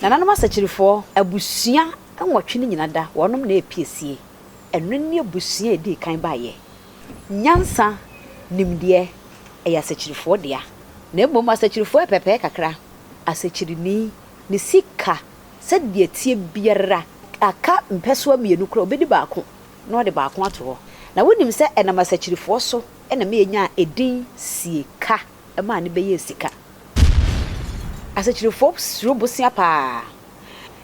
Nananom asakyirifoɔ abusua nwɔtwe no nyina da, wɔnom na ɛpiesie. Ɛno ne abusua a ɛdii kan baeɛ. Nyansa, nimdeɛ, ɛyɛ asakyirifoɔ dea. Na mmom asakyirifoɔ yɛ pɛpɛɛ kakra. Asakyirini, ne sika sɛdeɛ ɛteɛ biara, aka mpɛsoa mmienu koraa a, ɔbɛdi baako na ɔde baako ato hɔ. Na wonim sɛ ɛnam asakyirifoɔ so na meyɛnyaa edin Sieka. maa no bɛyɛɛ sika. Asakyirifoɔ suro bosea pa ara.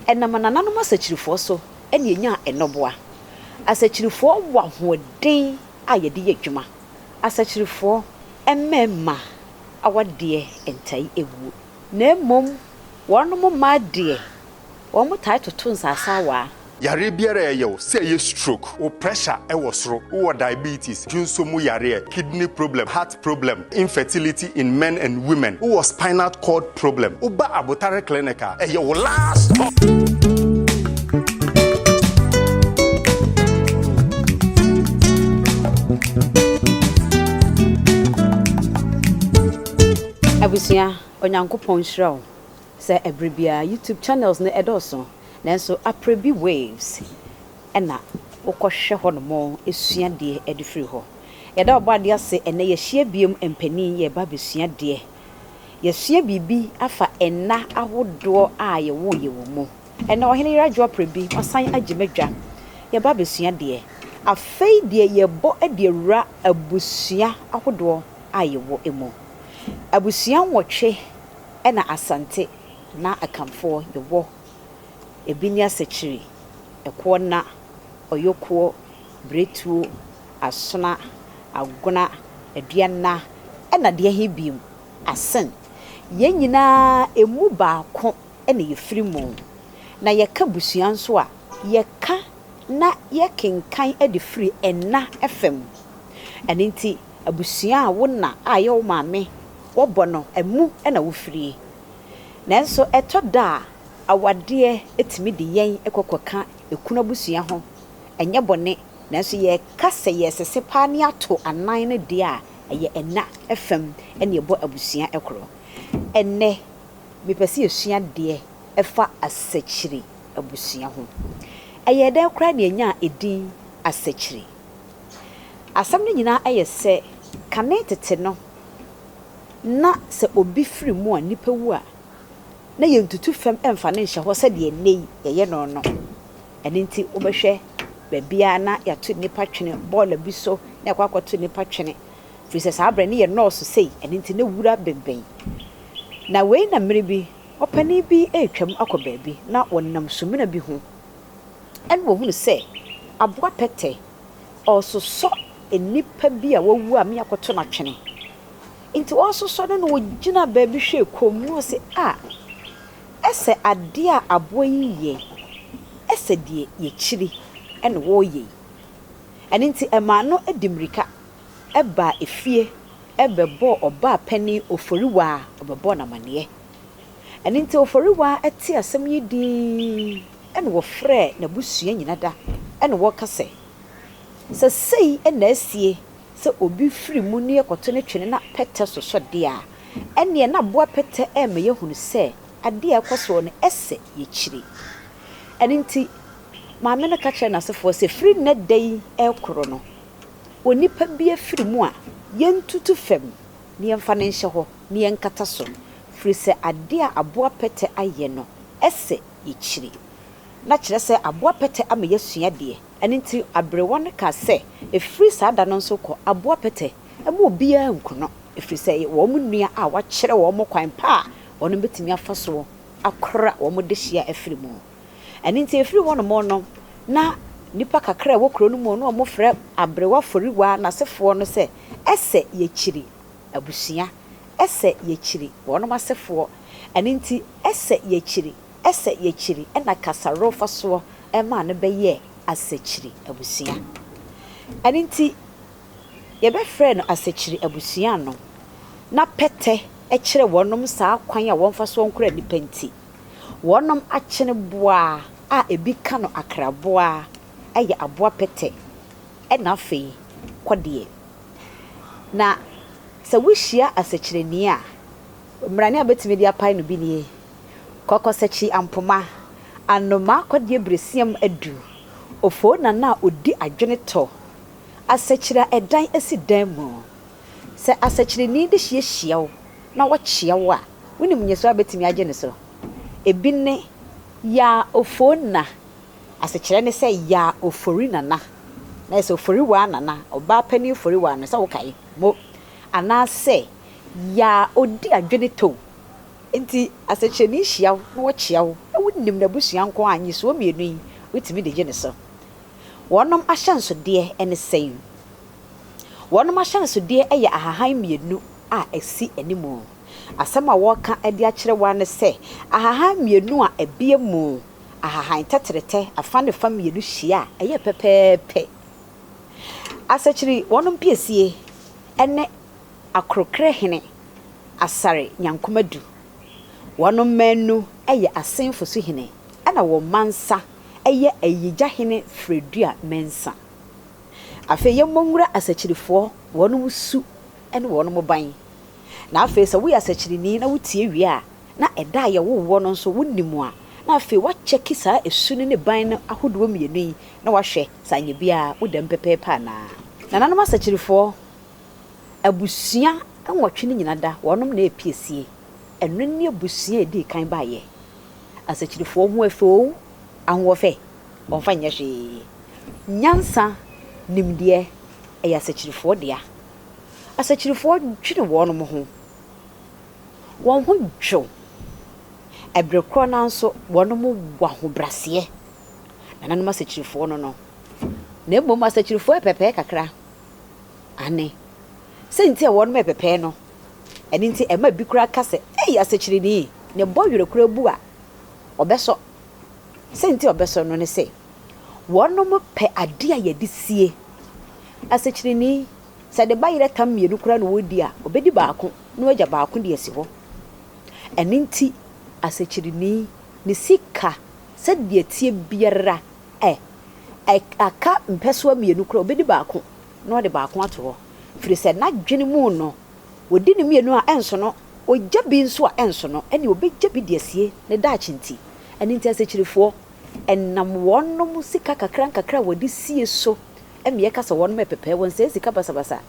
Ɛnam anananom asakyirifoɔ so na yɛnyaa nnɔboa. Asakyirifoɔ wɔ ahoɔden a yɛde yɛ adwuma. Asakyirifoɔ mmarima awadeɛ ntae awuo, na mmom wɔnom mmaa deɛ, wɔtaa toto nsaasaawaa Yareɛ biara a ɛyɛ wo, sɛ ɛyɛ stroke, wo pressure ɛwɔ soro, wowɔ diabetes, dwonsɔ mu yareɛ, kidney problem, heart problem, infertility in men and women, wowɔ spinal cord problem, woba abotare clinic a, ɛyɛ wo last stop. Abusua, Onyankopɔn nhyira wo. Sɛ ɛbere biara YouTube channels no ɛdɔɔso nanso aprɛ bi waves ɛna wokɔ hwɛ hɔ nom sua deɛ ɛde firi hɔ. Yɛda Ɔbɔadeɛ ase ɛnɛ yɛahyia biom mpanin yɛreba abɛsua deɛ. Yɛasua biribi afa nna ahodoɔ a yɛwoo yɛ wɔ mu. Ɛnɛ Ɔhene Yerah Dwoa aprɛ bi wasan agye m'adwa yɛreba abɛsua deɛ. Afei deɛ yɛrebɔ de awura abusua ahodoɔ a yɛwɔ mu. Abusua nwɔtwe. Ɛna Asante na Akanfoɔ yɛwɔ ɛbi ne Asakyiri, Ɛkoɔ Nna, Ɔyɔkuo, Biretuo, Asona, Agona, Aduanna ɛna deɛ he biom? Asen. Yɛn nyinaa ɛmu baako na yɛfiri mu. Na yɛka busua nso a, yɛka na yɛkenkan de firi Ɛna fam. Ɛno nti abusua a wo na a ɛyɛ wo maame wɔbɔ no mu na wofirie. Nanso ɛtɔ da a awadeɛ tumi de yɛn kɔ kɔka ekunu abusua ho. Ɛnyɛ bɔne, nanso yɛka sɛ yɛresese paa ne ato anan no deɛ a, ɛyɛ ɛna fam na ɛbɔ abusua korɔ. Ɛnnɛ, mepɛ sɛ yɛsua adeɛ ɛfa asakyiri abusua ho. Ɛyɛɛ dɛn koraa na yɛnyaa edin asakyiri? Asɛm no nyinaa yɛ sɛ kane tete no na sɛ obi firi mu a nipa wu a na yɛntutu fam mfa no nhyɛ hɔ sɛdeɛ nnɛ yi yɛyɛ no no. Ɛno nti wobɛhwɛ baabiara na yɛato nnipa twene bɔɔla bi so na yɛkɔ akɔto nnipa twene firi sɛ saa berɛ no yɛ nɔɔso sei ɛno nti na wura bɛnbɛn. Na wei na mmerɛ bi ɔpanin bi retwam akɔ baabi na ɔnam sumina bi ho Ɛna wɔhunu sɛ aboa pɛtɛ ɔresosɔ nnipa bi a wawu a meakɔto no atwene. Nti ɔresosɔ no na ɔgyina baabi hwɛɛ komm na ɔse, A! Ɛsɛ adeɛ a aboa yi yɛ, ɛsɛ deɛ yɛkyiri na wɔreyɛ yi. Ɛno nti ɛmaa no de mmirika baa efie bɛbɔɔ ɔbaa panin Oforiwaa, ɔbɛbɔɔ no amaneɛ. Ɛno nti Oforiwaa tee asɛm yi dinn na ɔfrɛɛ n'abusua nyina da na ɔka sɛ, Sɛ sei na asie sɛ obi firi mu nie kɔto ne twene na pɛtɛ sosɔ deɛ a, ɛnneɛ na boa pɛtɛ rema yɛahunu sɛ adeɛ a ɛkɔ soɔ no sɛ yɛkyiri. Ɛno nti maame no ka kyerɛɛ n'asefoɔ sɛ, Firi nnɛ da yi rekoro no, onipa bi afiri mu a, yɛntutu fam na yɛmfa no nhyɛ hɔ. na yɛnkata so, firi sɛ adeɛ a aboa pɛtɛ ayɛ no sɛ yɛkyiri. Na kyerɛ sɛ aboa pɛtɛ ama yɛasua deɛ. Ɛno nti aberewa no kaa sɛ, Ɛfiri saa da no nso rekɔ, aboa pɛtɛ mma obiara nkono, ɛfiri sɛ ɛyɛ wɔn nua a wɔakyerɛ wɔn kwan pa a wɔn bɛtumi afa so akora wɔn dehyeɛ afiri mu. Ɛno nti ɛfiri hɔnom no, na nnipa kakra a ɛwɔ kuro no mu no frɛ aberewa Foriwa n'asefoɔ no sɛ ɛsɛ yɛkyiri. Abusua, ɛsɛ yɛkyiri wɔnom asefoɔ, ɛno nti ɛsɛ yɛkyiri, ɛsɛ yɛkyiri na Kasaro fasoɔ maa no bɛyɛɛ Asakyiri abusua. Ɛno nti yɛbɛfrɛɛ no Asakyiri abusua no, na pɛtɛ kyerɛ wɔnom saa kwan a wɔmfasoɔ nkora nnipa nti, wɔnom akyene boaa a ɛbi ka no akraboaa, ɛyɛ aboa pɛtɛ, ɛna afei kɔdeɛ. Na sɛ wuhyia asɛkyerɛni a, mmrane a wubetumi de apae no bi nie, Kɔkɔsakyi ampoma, anomaa kɔdeɛ berɛsiam adu, ofoo nana a ɔdi adwene tɔ, asɛkyerɛ a ɛdan si dan mu. Sɛ asɛkyerɛni de hyeɛ hyia wo na ɔkyea wo a, wunim nnyɛsoɔ a wubetumi agye no so? Ebi ne. Yaa ofoo nna, Asekyerɛ ne sɛ Yaa Ofori Nana, na ayɛ sɛ Ofori Waa Nana, Ɔbaa Panin Ofori Waa no, sɛ wokae. Mo. Anaasɛ Yaa Odi Adwene Tow. Enti asekyerɛ no nhyia wo na wɔkyea wo na wonim n'abusua nko a, nnisoɔ mmienu yi wotumi de gye ne so. Wɔnom ahyɛnsodeɛ ne sɛn? Wɔnom ahyɛnsodeɛ yɛ ahahan mmienu a ɛsi anim. Asɛm a wɔreka de akyerɛ wo ara ne sɛ ahahan mmienu a abie mu ahahan tɛtrɛtɛ afã ne fã mmienu hyia a, ɛyɛ pɛpɛɛpɛ. Asakyiri wɔnom piesie ne Akorɔkerɛ hene Asare Nyankoma Du. Wɔnom mmaanu yɛ Asenfo so hene ɛna wɔn mansa yɛ Ayigya hene Fredua Mensa. Afei yɛmmɔ nwura Asakyirifoɔ, wɔnom su ne wɔnom ban. Na afei sɛ woyɛ Asakyirini na wotie wie a, na ɛda a yɛwoo woɔ no nso wonim a, na afei woakyɛke saa ɛsu no ne ban no ahodoɔ mmienu yi na woahwɛ sɛ anyɛ biara wo dam pɛpɛɛpɛ anaa. Nananom asakyirifoɔ abusua nwɔtwe no nyina da, wɔnom na ɛpiesie. Ɛno ne abusua a ɛdii kan baeɛ. Asakyirifoɔ ho afɛ oo, ahoɔfɛ, wɔmfa nyɛ hwee. Nyansa, nimdeɛ, ɛyɛ asakyirifoɔ dea. Asakyirifoɔ dwene wɔnom ho. Wɔn ho dwo. Ɛberɛ korɔ no ara nso wɔnom wɔ ahobraseɛ, nananom asakyirifoɔ no no. Na mmom asakyirifoɔ ɛpɛpɛɛ kakra. Aane. Sɛ nti a wɔnom ɛpɛpɛɛ no, ɛno nti ɛma bi koraa ka sɛ, Ei asakyirini, ne bɔ werɛ koraa bu a, ɔbɛsɔ. Sɛ nti a ɔbɛsɔ no ne sɛ, wɔnom pɛ adeɛ a yɛde sie. Asakyirini, sɛ ne ba yerɛ tam mmienu koraa na ɔredi a, ɔbɛdi baako. no agya baako de asi hɔ. Ɛno nti, asɛkyerɛni, ne sika sɛdeɛ ɛteɛ biara ɛ, ɛ, aka mpɛsoa mmienu koraa a, ɔbɛdi baako na ɔde baako ato hɔ, ɛfiri sɛ n'adwene mu no, ɔdi ne mmienu a, ɛnsono, ɔgya bi nso a, ɛnsono, ɛnneɛ ɔbɛgya bi de asie ne daakye nti. Ɛno nti asɛkyerɛfoɔ, ɛnam wɔnom sika kakra nkakra a wɔde sie so, ɛmmeɛ ka sɛ wɔnom yɛ pɛpɛɛwɔ, nsɛe sika basabasa.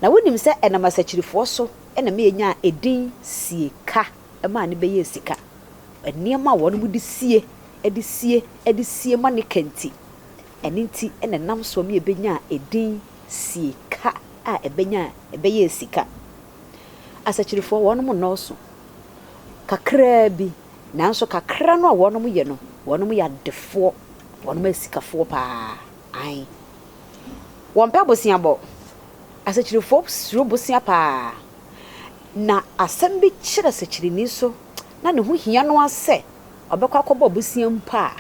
Na wonim sɛ ɛnam asakyirifoɔ so na Meya nyaa edin sie ka maa ne bɛyɛɛ sika. Nneɛma a wɔnom de sie, de sie, de sie ma ne ka nti, ɛno nti na ɛnam soɔ Meya bɛnyaa edin sie ka a ɛbɛnyaa, ɛbɛyɛɛ sika. Asakyirifoɔ, wɔnom nnɔɔso, kakraa bi, nanso kakra no a wɔnom yɛ no, wɔnom yɛ adefoɔ, wɔnom yɛ sikafoɔ paa, aane. Wɔmpɛ boseabɔ. Asekyirefo suro bosea paa. Na asɛm bi kyerɛ sekyireni so na ne ho hia no ara sɛ ɔbɛkɔ akɔbɔ bosea mpo a,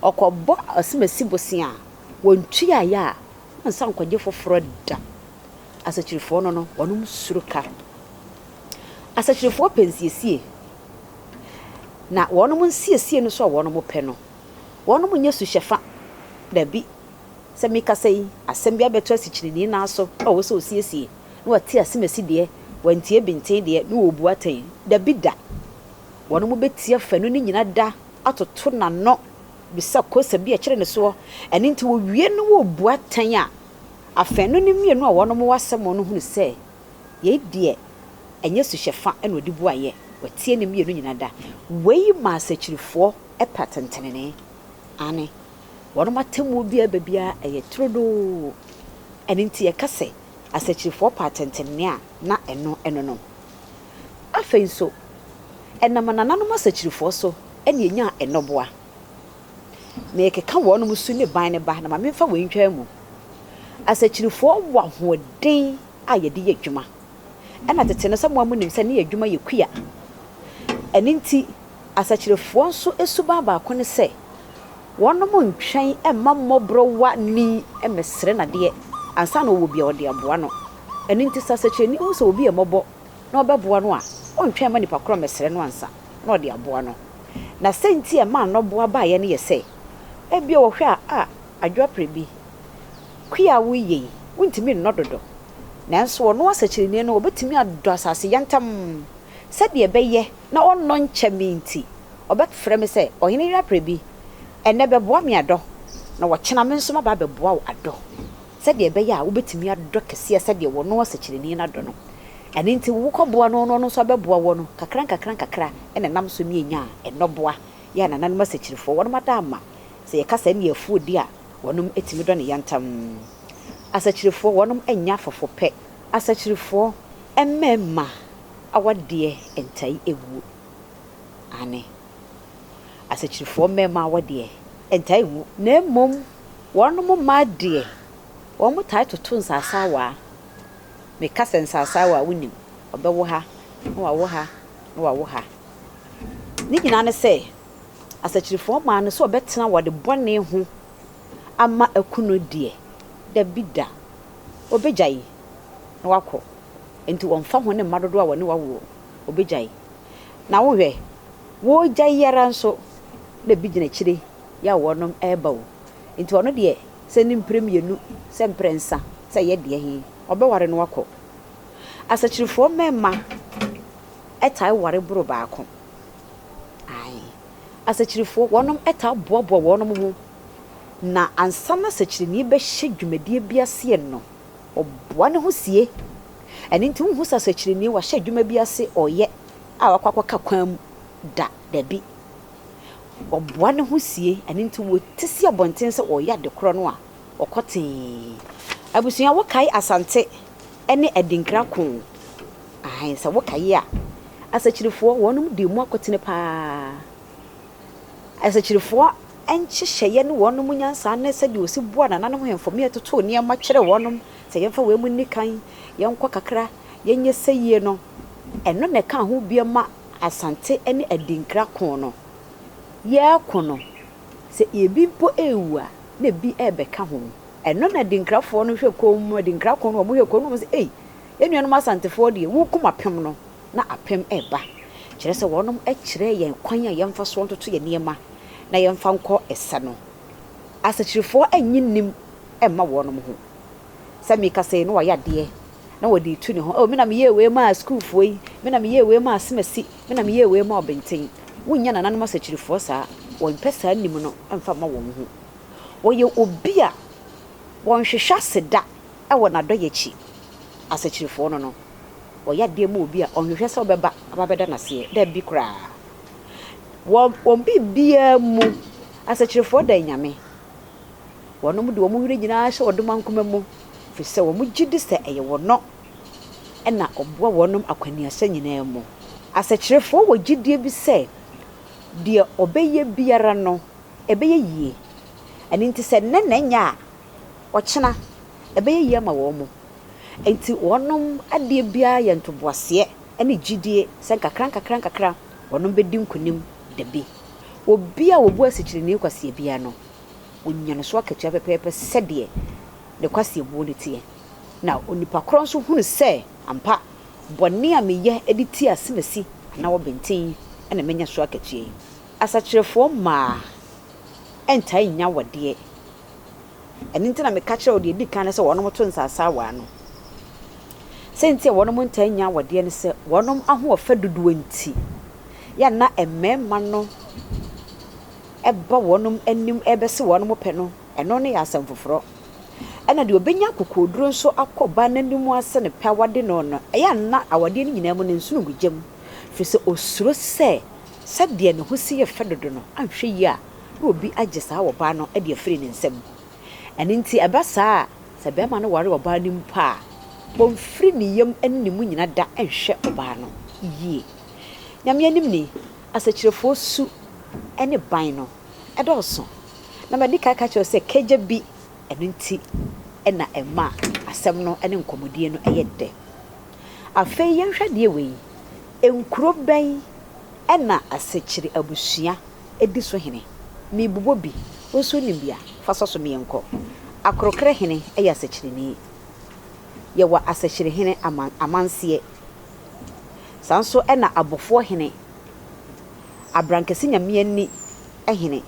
ɔkɔbɔ asimasi bosea a, wɔntuaeɛ a, wɔnsan nkɔgye foforɔ da. Asekyirefoɔ no no, wɔnom suro ka. Asekyirefoɔ pɛ nsiesie. Na wɔnom nsiesie no so a wɔnom pɛ no, wɔnom nyɛ suhyɛfa. Dabi, Sɛ mekasa yi, asɛm bi abɛto asikyireni no aso a ɔwɔ sɛ ɔsiesie, na wate asem asi deɛ, wantie benten deɛ, na ɔrebu atɛn. Dabi da! Wɔnom bɛtia fanu no nyina da atoto n'ano bisa kosa bi a ɛkyere ne soɔ. Ɛno nti wɔwie no wɔrebu atɛn a, afanu no mmienu a wɔnom wɔ asɛm no hunu sɛ yei deɛ ɛnyɛ suhyɛ fa na ɔde bu ayɛ, watie ne mmienu nyina da. Wei ma asakyirifoɔ pɛ atɛntenenee. Aane. Wɔnom atemmuo biara ba biara yɛ turodoo. Ɛno nti yɛka sɛ asakyirifoɔ pɛ atɛntɛnenee a na ɛno ɛno no. Afei nso, ɛnam anananom asakyirifoɔ so na yɛnyaa nnɔboa. Merekeka wɔnom su ne ban no ba na ma memfa wei ntwaa mu. Asakyirifoɔ wɔ ahoɔden a yɛde yɛ adwuma. Ɛna tete no sɛ mo ara monim sɛ ne yɛ adwuma yɛ kua. Ɛno nti Asakyerɛfoɔ nso suban baako ne sɛ wɔnom ntwɛn mma mmɔborɔwa ni mmɛsrɛ no adeɛ ansa na ɔwɔ bi a ɔde aboa no. Ɛno nti sɛ asakyerɛni hu sɛ obi yɛ mmɔbɔ na ɔbɛboa no a, ɔntwɛn mma nipa korɔ mmɛsrɛ no ansa na ɔde aboa no. Na sɛ nti a ɛmaa nnɔboa baeɛ no yɛ sɛ, ebia wɔhwɛ a, a, Adwoaprɛbi, kua a woreyɛ yi, wontumi nnɔ dodo. Nanso ɔno asakyerɛni no, ɔbɛtumi adɔ asase yantam sɛdeɛ ɛbɛyɛ na ɔnnɔ nkyɛ me nti, ɔbɛfrɛ me sɛ, 'Ɔhene yere aprɛ bi, ɛnnɛ bɛboa me adɔ, na ɔkyena me nso maba abɛboa wo adɔ, sɛdeɛ ɛbɛyɛ a wobɛtumi adɔ kɛseɛ sɛdeɛ ɔno ɔsɛkyerɛni no adɔ no. Ɛno nti, wokɔboa no na ɔno nso abɛboa wo no, nkakrankakra na ɛnam so ne yɛnya nnɔboa, yɛn anananom asɛkyirifoɔ, wɔnom ada ama, sɛ yɛka saa nni afuo di a, wɔnom tumi dɔ ne yantam. Asɛkyirifoɔ, wɔnom nnya fɔfɔpɛ. Asɛkyirifoɔ, mmarima. Awadeɛ ntae ɛwuo, aane, asakyirifoɔ mmarima awadeɛ ntae ɛwuo, na mmom wɔnom mmaa deɛ, wɔn tae toto nsase awaa, me ka sɛ nsase awaa wo nim, ɔbɛwo ha, na wawo ha, na wawo ha, ne nyinaa ne sɛ, asakyirifoɔ mmaa no sɛ wɔbɛtena awadeɛ bɔne ho. ama aku no deɛ, dabi da, ɔbɛgyae na wakɔ. Enti wɔmfa ho ne mma dodoɔ a wɔne wo awoɔ, ɔbɛgyae. Na wohwɛ, woregyae yi ara nso na bi gyina akyire yɛ a wɔnom reba o. Enti ɔno deɛ, sɛ ne mprɛ mmienu, sɛ mprɛ nsa, sɛ ɛyɛ deɛ he, ɔbɛware na wakɔ. Asakyirefoɔ mmɛmma tae ware boro baako. Ae. Asekyerefo, wɔnom taa boaboa wɔnom ho na ansa na sɛkyerɛni bɛhyɛ dwumadie bi aseɛ no, ɔboa ne ho sie. Ɛno nti wonhu sɛ sɛkyerɛni wahyɛ adwuma bi ase ɔɔyɛ a wakɔ akɔka kwan mu da, dabi. Ɔboa ne ho sie, ɛno nti wɔte si abɔnten sɛ ɔɔyɛ ade korɔ no a, ɔkɔ tee. Abusua, wokae Asante ne Adinkra koo? Aane, sɛ wo kae a, asakyirifoɔ, wɔnom dii mu akotene paa ara. Asakyirifoɔ nhyehyɛeɛ ne wɔnom nyansa ne sɛdeɛ wɔsi boa nananom hemfo me ɛtotoo nneɛma kyerɛ wɔnom, sɛ yɛmfa wei mu nni kan, yɛnkɔ kakra, yɛnyɛ sɛyie no, ɛno na ɛkaa ho bia ma Asante ne Adinkra ko no. Yɛreko no, sɛ ebi mpo rewu a, na ebi rebɛka ho. Ɛno na Adinkrafoɔ no hwɛ komm, Adinkra ko no wɔhwɛ komm na wɔse, Ei, Yɛn nuanom Asantefoɔ deɛ, wokum apem no, na apem reba. Kyerɛ sɛ, wɔnom kyerɛɛ yɛn kwan a yɛmfa soɔ ntoto yɛn nneɛma na yɛmfa nkɔ ɛsɛ no. Asakyirifoɔ nnye nnim mma wɔnom ho. Sɛ meka sei na wɔayɛ adeɛ na wɔde retu ne ho, Oh, me na meyɛɛ wei maa sukuufoɔ yi, me na meyɛɛ wei maa Asemasi, me na meyɛɛ wei maa Ɔbenten. Wonnya nananom Asakyirifoɔ saa. Wɔmpɛ saa nnim no mfa mma wɔn ho. Wɔyɛ obi a wɔnhwehwɛ ase da Wɔ n'adɔe akyi, asakyirifɔɔ no no, ɔyɛ adeɛ ma obi a ɔnhwehwɛ sɛ ɔbɛba abɛda no aseɛ, dabi koraa. Wɔ wɔn biribiara mu, asakyirifɔɔ dan Nyame. Wɔnom de wɔn were nyinaa hyɛ wɔnom ankoma mu, firi sɛ wɔn gye di sɛ ɛyɛ wɔnɔ na ɔboa wɔnom akwaniasa nyinaa mu. Asakyirifɔɔ wɔ gyidie bi sɛ deɛ ɔbɛyɛ biara no ɛbɛyɛ yie. Ɛno nti sɛ nnɛ na ɛnyɛ a, Ɔkyena, ɛbɛyɛ yie ama wɔn. Enti wɔn adeɛ biara yɛ ntoboaseɛ ne gyidie sɛ nkakrankakra wɔn bɛdi nkonim dabi. Obi a ɔbu asikyireni kwasea biara no, ɔnya ne so akatua pɛpɛɛpɛ sɛdeɛ ne kwasea buo no teɛ. Na onipa korɔ nso hunu sɛ, Ampa, bɔne a meyɛ de tia asemasi anaa ɔbenten na manya so akatua yi. Asakyerefoɔ mmaa ntaa nnya awadeɛ. Ɛno nti na meka kyerɛɛ wɔn deɛ ɛdi kan no sɛ wɔnto nsa asaawa ano. Sɛ nti a wɔnom ntaa nnya awadeɛ ne sɛ wɔnom ahoɔfɛ dodoɔ nti yɛ a na mmarima no ba wɔnom anim rebɛse wɔnom pɛ no, ɛno no yɛ asɛm foforɔ. Ɛna deɛ ɔbɛnya akokoɔduro nso akɔ ɔbaa no anim ase no pɛ awade no no, ɛyɛ a na awadeɛ no nyinaa mu no nsono ngu gya mu, firi sɛ ɔsuro sɛ sɛdeɛ ne ho si yɛ fɛ dodo no anhwɛ yie a, na obi agye saa ɔbaa no de afiri ne nsam. Ɛno nti ɛba saa a, sɛ barima no ware ɔbaa no mpo a, ɔmfiri ne yam ne ne mu nyina da nhwɛ ɔbaa no yie. Nyame anim ni, asɛkyirɛfoɔ su ne ban no dɔɔso. Na madi kan aka akyerɛ wo sɛ kagya bi, ɛno nti na ɛma asɛm no ne nkɔmmɔdie no yɛ dɛ. Afei yɛnhwɛ adeɛ wei, nkuro bɛn na asɛkyire abusua di so hene. Merebobɔ bi. Wo nso wonim bi a, fa sɔ so ma yɛnkɔ. Akorokra hene yɛ asɛkyerɛni. Yɛwɔ asɛkyerɛ hene ama amanseɛ. Saa nso na abofoɔ hene, abrankɛse nyame ani hene.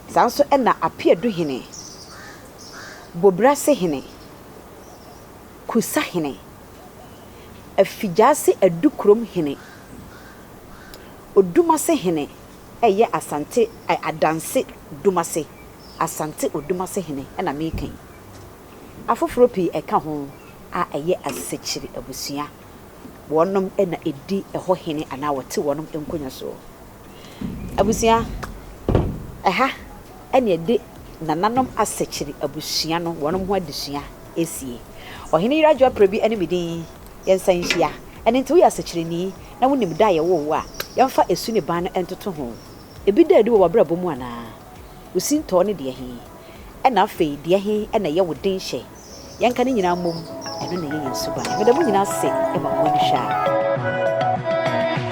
Saa nso na apeadu hene, bobirase hene, kusa hene, afigyaase adu kurom hene. Odumasehene ɛyɛ Asante Adanse Dumase Asante Odumasehene na meka yi. Afoforɔ pii ɛka ho a ɛyɛ Asekyiri abusua. Wɔnom na ɛdi ɛhɔ hene anaa wɔte wɔnom nkonwa soɔ. Abusua, ɛha na yɛde Nananom Asekyiri abusua no wɔnom ho adesua ɛsie. Ɔhene Yerah Juaprɛ bi ne me din. Yɛn nsa nhyia. Ɛno nti, woyɛ asekyerɛni na wunim da a yɛwoo wo a, yɛmfa esu ne ban no ntoto ho. Ebi da adi wɔ w'abrabɔ mu anaa? Wo sintɔ ne deɛ he? Ɛna afei, deɛ he na ɛyɛ wo den hyɛ? Yɛnka ne nyinaa mmom, ɛno na ɛyɛ yɛn suban. Meda mo nyinaa ase ma mo ani hwɛ a.